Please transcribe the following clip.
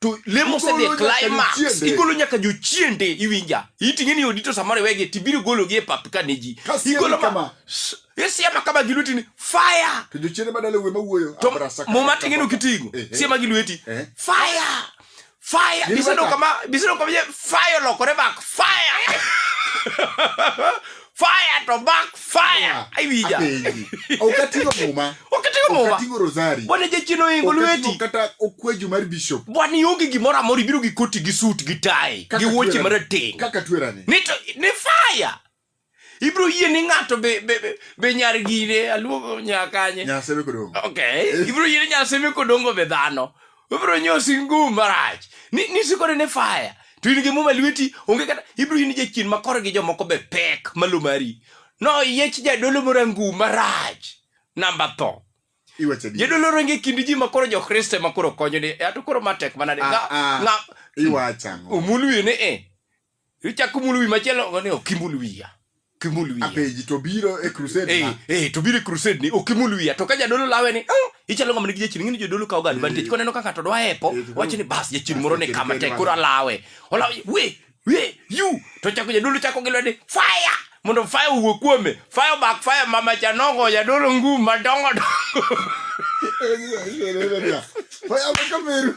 to lemo osedhi e climax igolo nyaka jochiende iwinja iting'e ni odito samoro iwegi to ibiro gologi e pap ka ne ji igolo ma isiema kama gi lweti ni fire to jochiende madala we mawuoyo to muma ting'e no kiting'o eh, eh. siema gi lweti eh. fire fire biseno kama biseno kama fire lokore back fire fire to back fire aiwija apenji okatigo muma okatigo muma okatigo rosari wane jachien oingo lweti kata okweju mar bishop bwana ionge gimoro amoro ibiro gi koti gi sut gi tai gi wuoche marateng kaka twerani ni to ni fire ibiro yie ni ng'ato be, be, be, be nyar gine aluongo nyakanye nyaseme kodongo okay eh. ibiro yie ni nyaseme kodongo be dhano obiro nyosi ngum marach ni ni sikore ne fire to in gi muma lweti onge kata ibiro in jachien ma kor gi jomoko be pek malo mari no yech jadolo moro ngum marach namba tho iwacho adier. jadolo ronge kind ji ma koro jokristo ema koro konyo ni ato koro matek manade Ah, ah. nga iwacho ang'o omulwine e ichako mulo wi machielo ogoni ok imul wiya kimul wiya apeji to biro e crusade eh eh to biro e crusade ni ok imul wiya to ka jadolo lawe ni oh, ichalo ng'ama nigi jachien ng'ini jodolo kawo ga advantage eh. koneno kaka to dwa epo eh, wacho ni bas jachien moro ni kama tek koro alawe olaw we we you to chako jadolo chako gi lwede fire mondo fire owuok kuome fire back fire mama chanongo jadolo ngum madongo dongo eh, fire back